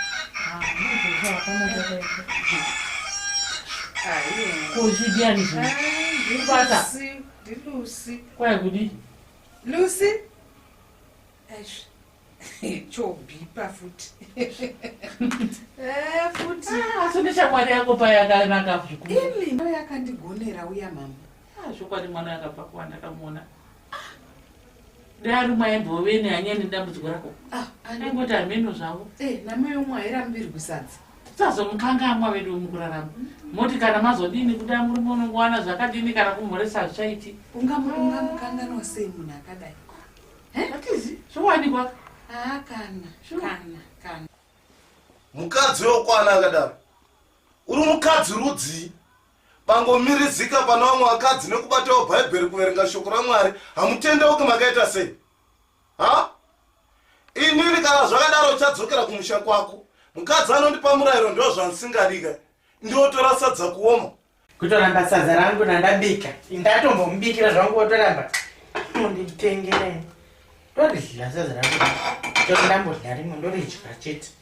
S1: Kozvidiani zvibata. Ndilusi. Kwai kudi. Lusi. Eish. chobhipa futi eh, futi ah, asi neshamwari yako payakanaka zvikuru yakandigonera uya mama ah, zvokwadi mwana akabva kuwanda kamuona dai ari umwe aimbove nehanyani nedambudziko rako ah, aingoti hameno zvavo eh, namai umwe airambirwi sadza sazomukangamwa vedu mukurarama moti kana mazodini kuda murume unongowana zvakadini kana kumhoresa hazvichaiti ungamukanganwa sei munhu akadai atizi zvowanikwa haa kana kana kana mukadzi wekwana akadaro uri mukadzi rudzii Pangomirizika pana vamwe vakadzi nekubatawo bhaibheri kuverenga shoko raMwari hamutendeuki makaita sei? Ha? Inini kana zvakadaro uchadzokera kumusha kwako. Mukadzi anondipa murayiro ndo zvandisingadika. Ndiotora sadza kuoma. Kutoramba sadza rangu randabika. Ndatombomubikira zvangu wotoramba. Munditengerei. Ndodya sadza rangu. Ndodya rimwe ndodya chete.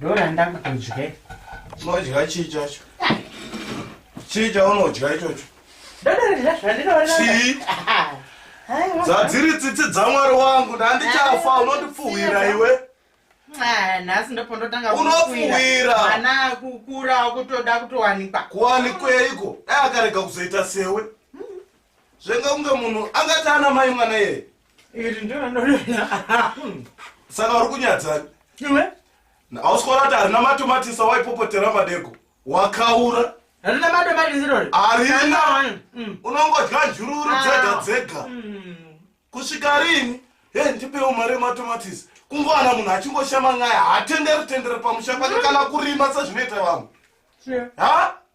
S1: Dora ndakutodya. Unodya chii chacho? Chii chaunodya ichocho? Chii? Dzadziri tsitsi dzaMwari wangu ndandichafa unondipfuhwira iwe. Ah, nhasi ndopondotanga unopfuhwira ana kukura kutoda kutowanikwa kuwanikweiko dai akarega kuzoita sewe zvenga kunge munhu angati ana mai mwana yeye iri ndinonoona saka uri kunyadzani iwe ausikoona kuti harina matomatisa waipopotera madeko wakaura harina matomatisi rori harina mm. unongodya njururu ah. dzega dzega mm. kusvika rini he ndipewo mari yematomatisi kungowana munhu achingoshama nyaya hatenderi tendere pamusha kwake kana kurima sezvinoita vamwe ha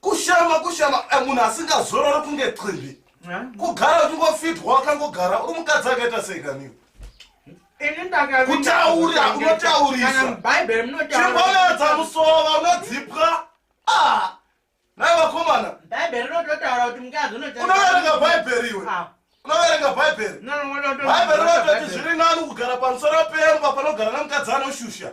S1: kushama kushama eh, munhu asingazorori kunge qimbi kugara uchingofitwa wakangogara uri mukadzi akaita sei kaniwe kutaura unotaurisachimbonedza musova unodzipwa ah, nai vakomana unoverenga bhaibheri iwe ah. unoverenga bhaibheri bhaibheri rinototi zviri nani kugara pamusoro pemba panogara nemukadzi anoshusha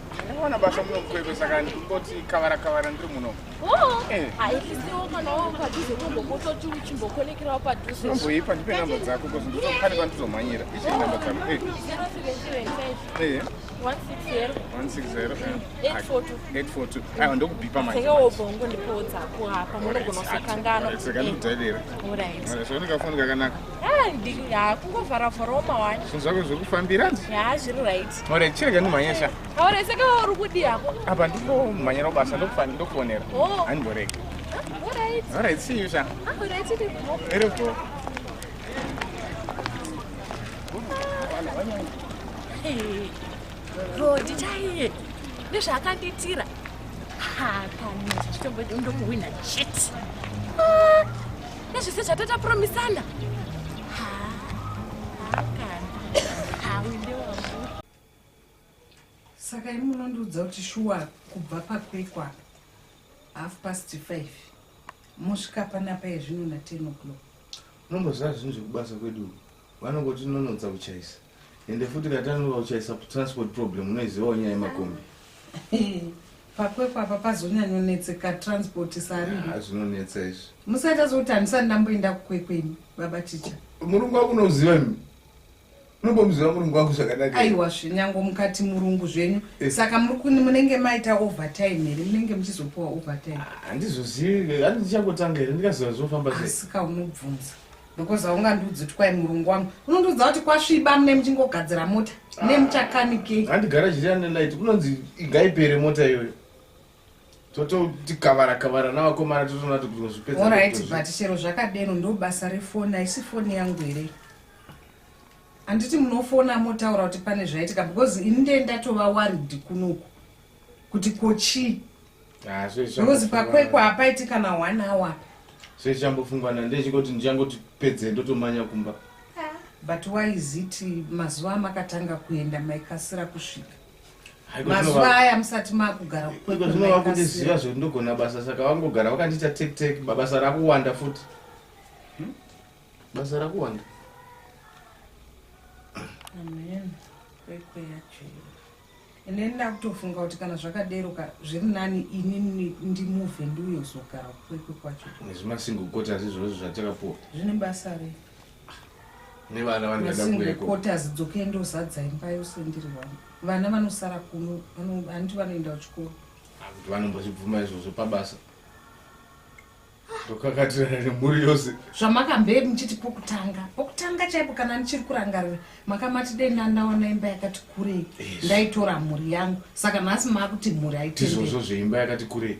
S1: Mwana basa muno mkwekwe saka ndingoti kavara kavara ndiri muno. Oh. Eh. Haisiwo kana wao padhuze tombokototi uchimbokonekerawo padhuze. Tomboipa ndipe namba dzako because ndinofana kwandizomhanyira. Ichi namba dzako. Eh. 0775. Eh. 160. 160. 842. 842. Ayo ndokubhipa manje. Saka wobongo ndipo dzako hapa munogona kusakanganwa. Saka ndikudairira. Alright. Saka ndikafona kakanaka. kungovharavharawo mawani zvinhu zvako zviri kufambira ya zviri right ore chirega ndimhanyesha aore saka uri kudi hako apa ndingomhanyira kubasa ndokufani ndokuonera oh. handimborega orit see you sha iripo rodi chaiye ndezvaakandiitira hakanezvitombo ndokuhwina chete nezvese zvatatapromisana saka imi munondiudza kuti shuwa kubva pakwekwa half past five mosvika panapa yezvino na ten o'clock unomboziva zvinhu zvekubasa kwedu vanongoti nonotsa kuchaisa ende futi katanova kuchaisa transport problem unoizivawo nyaya yemakombi pakwekwa apa pazonyanyonetseka transport sarizvinonetsa ah, izvi musaita zokuti handisati ndamboenda kukwekwemi baba ticha murungu wako unoziva mi unombomuziva murungu wako zvakanaka aiwa zvenyango mukati murungu zvenyu eh. saka munenge maita overtime here munenge muchizopiwa overtime ah, handizozivi handichangotange here ndikaziva zvinofamba seasika unobvunza Ndokoza ungandiudzi kuti kwai murungu wangu unondiudza kuti kwasviba mune muchingogadzira mota ah. ne muchakanikei handigara chiri ane light kunonzi igaipere mota iyoyo tototi kavara kavara navakomana totoona kuti kunozvipedza orit but chero zvakadeno ndo basa refoni haisi foni yangu here handiti munofona motaura kuti pane zvaitika because ini ndee ndatova warid kunoku kuti ko chii ah, because pakwekwa hapaiti kana one hour apa sei chambofungwa nandechingoti ndichangoti pedze ndotomanya kumba ah, but why is it mazuva amakatanga kuenda maikasira kusvika mazuva aya musati makugara zvinova kundiziva zvekuti ndogona basa saka wangogara wakandiita tektek babasa rakuwanda futi hmm? basa rakuwanda amen kwekweyacho Ini ndakutofunga kuti kana zvakadero ka zviri nani ini ndimove ndiuye kuzogara kwekwe kwacho. Nezvimasingle quarters izvozvo zvatakapuwa. Zvine basa rei? Nevana vane vada kuuya ko. Quarters dzokei ndozadza imba yose ndiri wangu. Vana vanosara kuno, vanoti vanoenda kuchikoro. Kuti vanombozvibvuma izvozvo pabasa. ndokakatirana nemhuri yose zvamakambe muchiti pokutanga pokutanga chaipo kana ndichiri kurangarira makamati dei ndandaona imba yakati kurei ndaitora mhuri yangu saka nhasi maakuti mhuri aitizvozvo zveimba yakati kurei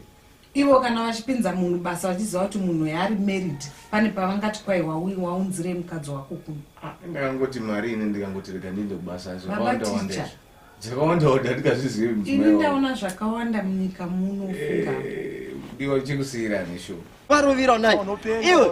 S1: ivo kana vachipinza munhu basa vachiziva kuti munhu yaari married pane pavangati kwai waui waunzirei mukadzi wako kuno ah, ndakangoti mari ini ndikangoti rega ndiende kubasa zvakawandawanda Dzakawanda wanda ndikazvizivi mudzimai wangu. Ini ndaona zvakawanda munyika muno fuka. Eh, ndiwa chikusiyira nesho. Varuviro nai. Iwe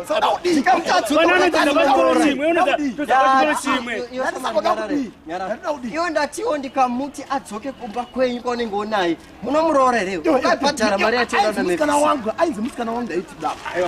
S1: iwe ndatiwo ndikamuti adzoke kumba kwenyu kwaunenge unaye munomuroora here akabhadhara mari yatinoda musikana wangu ainzi musikana wangu ndaiti daaiyo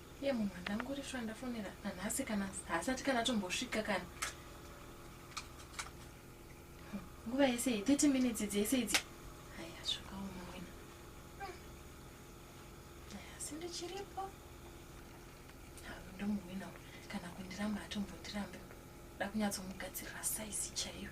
S1: Ye mumwe ndanguri shuwa ndafonera nanhasi kana haasati kana tombosvika kana nguva yese iyi 30 minutes dzese idzi haya svikawo mumwena haya asi ndichiripo ndomumwena kana kundiramba atombondirambe da kunyatsomugadzirira saizi chaiyo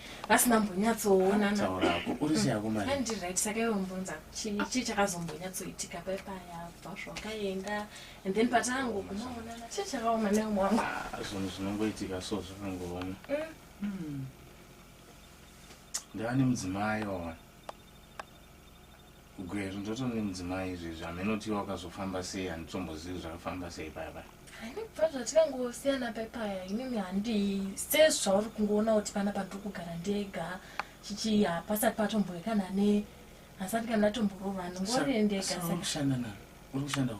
S1: vasina mbonyatsoonana taura hako uri sei hako mari andi right saka iwe umbunza chii chii chakazombonyatsoitika pai paya bva zvakaenda and then patango kumaonana chii chakaoma newe mwangu Ah, zvinhu zvinongoitika so zvakangooma Mm. ndava nemudzimai waona Gweru ndoto nemudzimai izvezvi hameno kuti wakazofamba sei handitombozivi zvakafamba sei paya paya haini kubva zvatikangosiyana pai paya inini handi sezvauri kungoona kuti pana pandiri kugara ndega chichi hapasati patomboe kana ne hasati kana ndatomborova ndingori ndegaushandana uri kushanda u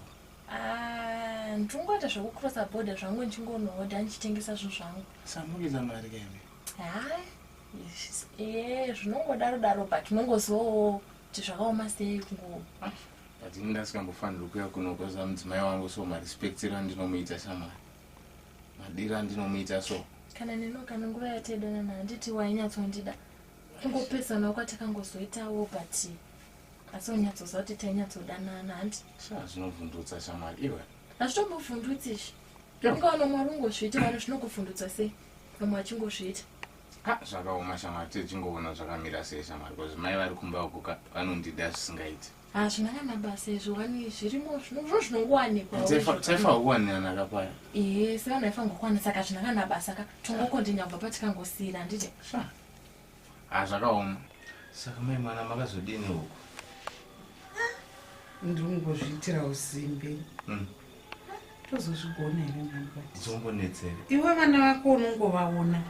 S1: ah, ndingoita zvekucrossa border zvangu ndichingonohodha ndichitengesa zvinhu zvangu samukiza mari kaime hai eh, zvinongodaro daro but unongozowo kuti zvakaoma sei kungo adini ndasikambofanirwa kuya kunokoza mudzimai wangu so marespectiro andinomuita shamwari madiro andinomuita so kana neno kana nguva yataidanana handiti wainyatsondida kungopesana kwatakangozoitawo but asi unyatsoziva kuti tainyatsodanana handi shaa zvinovhundutsa shamwari iwe hazvitombovhundutsi izvi Ndakaona mwari ungozviita vana zvinokuvhundutsa sei vamwe vachingozviita ah, zvakaoma shamwari techingoona zvakamira sei shamwari bcause mai vari kumba ukuka vanondida zvisingaiti hazvina ah, kana basa izvo wani zvirimo zvinozvo zvinongowanikwaotaifa kuwanirana kapaya ee sevanhu vaifangokuwana saka zvina kana basa ka tongokondinya kubva patikangosiira handiti Ah, zvakaoma. Saka mai mwana makazodini huko? Ndiri kungozviitira usimbe. Mm. Tozozvigona here mwana kwati? Zombonetsere. Iwe vana vako unongovaona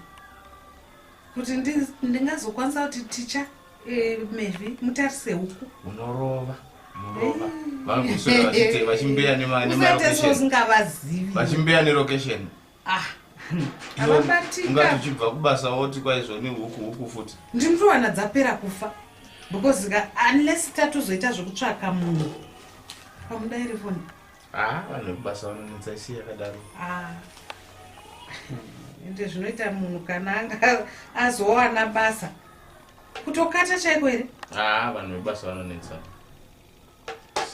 S1: kuti ndi- ndingazokwanisa kuti ticha eh, Mary mutarise huku. Unorova. Murova. Vangu kuswera vachite vachimbeya nema nema Usati location. sozingavazivi. Vachimbeya nelocation. ah ungati uchibva kubasa woti kwaizvo nehuku huku futi ndinotowana dzapera kufa because ka unless tatozoita zvekutsvaka munhu pamuda iri foni haa vanhu vekubasa vanonetsa isi yakadaro ah. ende zvinoita munhu kana anga azowana basa kutokata chaiko here haa vanhu vekubasa vanonetsa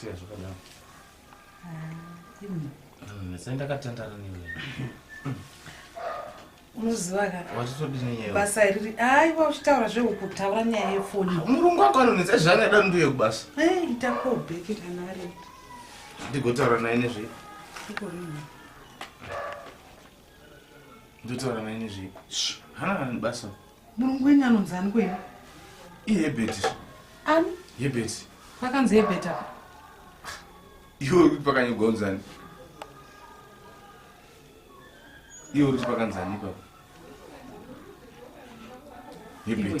S1: siya zvakadaro unozivaka basa iriri aiwa uchitaura zvehuku taura nyaya yefoni murungu wako anonetsa zvaanoda nduye kubasa itakobheki kana ari ndigotaura naye nezvei ndotaura naye nezvei hana basa Murungu wenyu anonzi ani kwenyu? IHebert. Ani? Hebert. Pakanzi Hebert apa. Iwe uri kuti pakanyogwa unzi ani? Iwe uri kuti pakanzi ani ipapo? Hebert. Iwe.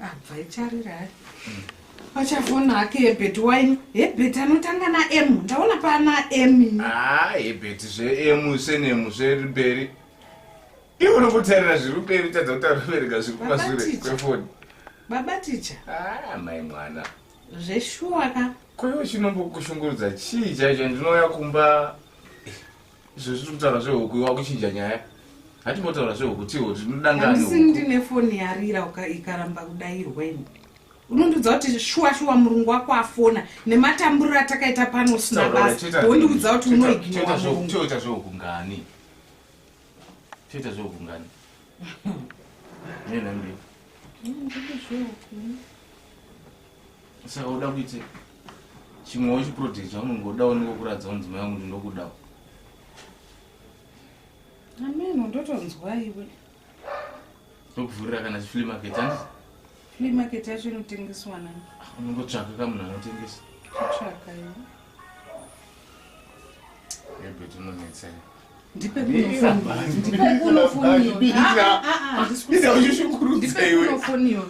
S1: abva icharira hai pachavona hake hebheti waini hebheti anotanga naemu ndaona pana emi haa ah, hebheti zveemu senemu zveri mberi iwe unokutarira zviri mberi tadza kutaura kubereka zviri kumasure kwefoni baba ticha haa ah, mai mwana zveshuwa ka koiwe chinombokushungurudza chii chaicho ndinouya kumba izvo zviri kutaura zvehuku iwa kuchinja nyaya hatimbotaura zvehuku tiwo tinodangaaisi ndine foni yarira ikaramba kudairwa ini unondiudza kuti shuwa shuwa murungu wako afona nematamburiro atakaita pano usina basa wondiudza kuti unoiginoa murungu toita zvehuku ngani toita zvehuku ngani nena mbiri saka uda kuite chimwewo chiproject chaunenge uda unenge ukuratidza kuti mudzimai wangu ndinokudawo ameno ndotonzwa iwe ndokuvhurira kana chiflea market andi flea market yacho inotengeswa nani ah, unongotsvaka ka munhu anotengesa kutsvaka iwe ebet unonetsa iwe ndipe kunofoniwa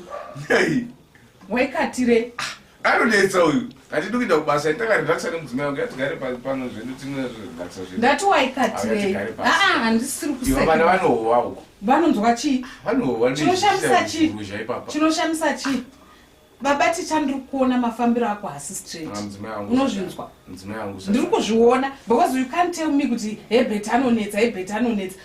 S1: waikatire ah, anonetsa uyu hatidi kuita kubasa itakarelaxa nemudzimai wangu yatigare pano zvedu tinorelaxa zvedu ndati waikatirei aa ah, handisiri kuiva vana vanohowa uko vanonzwa chii vanohowa chinoshamisa chii chinoshamisa chii baba ticha ndiri kuona mafambiro ako hasi straight ah, unozvinzwa ndiri kuzviona because you can't tell me kuti hebet anonetsa hebet anonetsa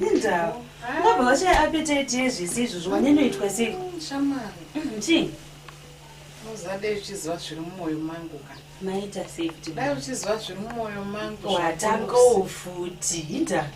S1: Indawo. Ngoba washaya appetite yezvisi izvo zvwanyanoitwa sei? Mm, shamari. Mm, chii? Uzade uchiziva zviri mumwoyo mangu ka. Maita sei kuti dai uchiziva zviri mumwoyo mangu. Watangawo futi. Indawo.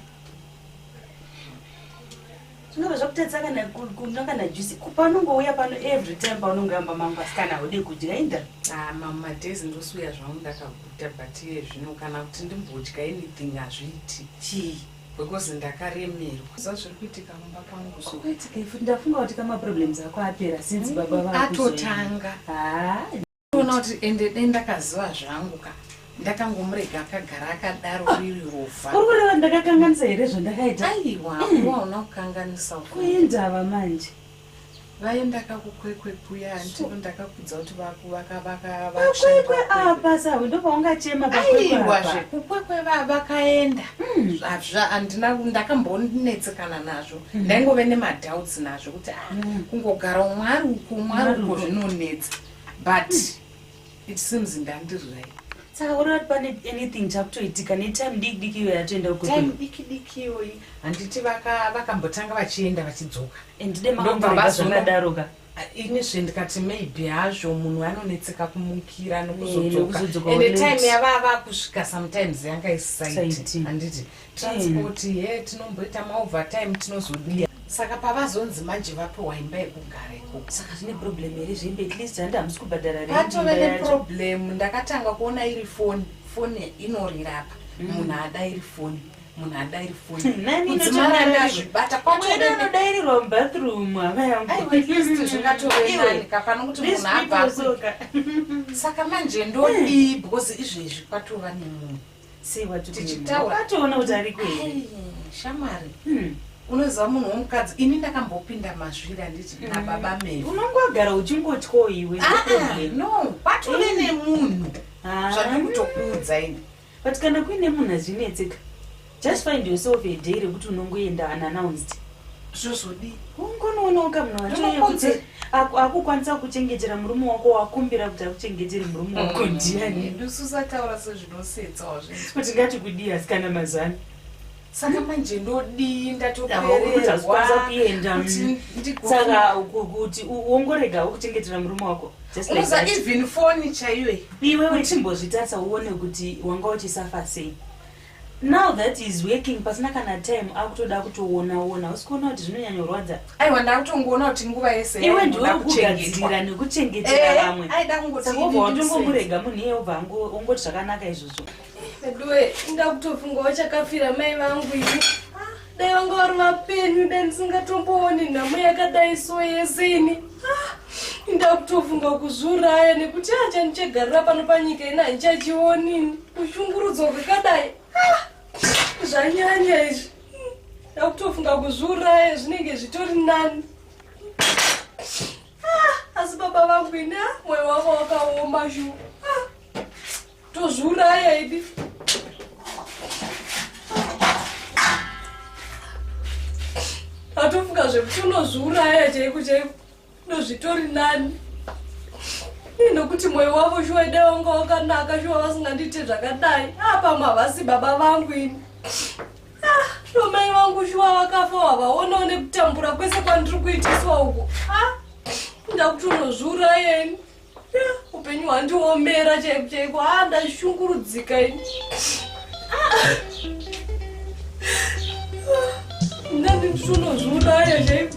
S1: zvinova zvakutadza kana kunwa kana juice kupanongouya pano every time paunongoyamba mangu asikana haude kudya inda ah, mama days ndosiuya zvangu ndakau Kuita but iye zvino kana kuti ndimbodya anything hazviiti. Chii? Because ndakaremerwa. Zva zviri kuitika mumba kwangu zvo. Kuitika ifu ndafunga kuti kama problems ako apera since mm, baba vako. Atotanga. Ah. Ona kuti ende dai ndakaziva zvangu ka. Ndakangomurega akagara akadaro ah. riri rofa. Uri kureva ndakakanganisa here zvandakaita? Aiwa, mm. waona kukanganisa. Kuindava manje. vaye ndakakukwekwe kuya antivo ndakakudza kuti vakukwekwe apa sawe ndopaungachema aiwa zvekukwekwe vakaenda hmm. andina ndakambonetsekana nazvo hmm. ndaingove nemadoubts nazvo kuti ah, hmm. kungogara umwari uko umwari uko zvinonetsa but it seems ndandiri right saka uri vati pane anything chakutoitika netime diki diki iyoyi yatoenda time diki diki iyoyi handiti vakambotanga vachienda vachidzoka andidemaaazvakadaroka ini zve ndikati maybe hazvo munhu anonetseka kumukira nokuzodzokaende eh, time yavava kusvika sometimes yanga isisaiti handiti transport mm. he tinomboita maovertime tinozodiya saka pavazonzi manje vapiwa imba yekugara ikoko saka zvine problem here zvembe at least handi hamusi kubhadhara patove neproblem ndakatanga kuona iri foni foni inorira apa mm. munhu mm. ada iri foni munhu ada iri foni kudzimaranazvibata kwamwede anodairirwa mubathroom havayaaiwaisti zvingatovenanika pano kuti munhu abva saka manje ndodii mm. because izvezvi kwatova nemunhu sei watichitauratoona kuti ari kwei shamwari hmm. unoziva munhu womukadzi ini ndakambopinda mazviri handiti hmm. nababa mei unongogara uchingotyawo iwe ah, ah, no patove hmm. nemunhu ah. zvandiri kutokuudza ini but kana kuine munhu azvinetseka just find yourself a day rekuti unongoenda unannounced zvozodii ungonoonawo kamunhu wachoyekut akukwanisa kuchengetera murume wako wakumbira kuti akuchengetere murume wako mm. ndiani ndusuzataura sezvinosetsawo kuti ngati kudii asi kana mazani saka manje ndodii ndatoereeakuendasaka kuti wongorega wokuchengetera murume wako uza even foni chaiwe iwe wechimbozvitarisa uone kuti wanga uchisafasei Now that he is working pasina kana time akutoda kutoona ona hausi kuona kuti zvinonyanyorwadza aiwa ndakutongoona kuti nguva yese iwe ndiwe kugadzirira nekuchengetera eh, vamwe watomborega munhu iye obva ongoti zvakanaka izvozvo veduwe indakutofunga wachakafira mai vangu ini ah. dai vanga vari vapenyu dai ndisingatombooni nhamo yakadai so yese ini ah, ndakutofunga kuzviuraya nekuti acha ndichagarira pano panyika ini handichachionini kushungurudzwa kwakadai ah, zvanyanya izvi ndakutofunga kuzviuraya zvinenge zvitori nani ah, asi baba vangu ini mwoyo wavo wakaoma zhu tozviuraya idi atofunga zvekuti unozviuraya chaiko chaiko ndozvitori nani inokuti mwoyo wavo shuwa ida vanga wakanaka shuwa vasingandiite zvakadai apamwe ah, havasi baba vangu ini nomai ah, vangu shuwa vakafa wavaonawo nekutambura kwese kwandiri kuitiswa uko ah, ndakuti unozviuraya ini upenyu hwandiomera chaiko chaiko haa ah, ndashungurudzika ini ndandindisunozviuraya chaiko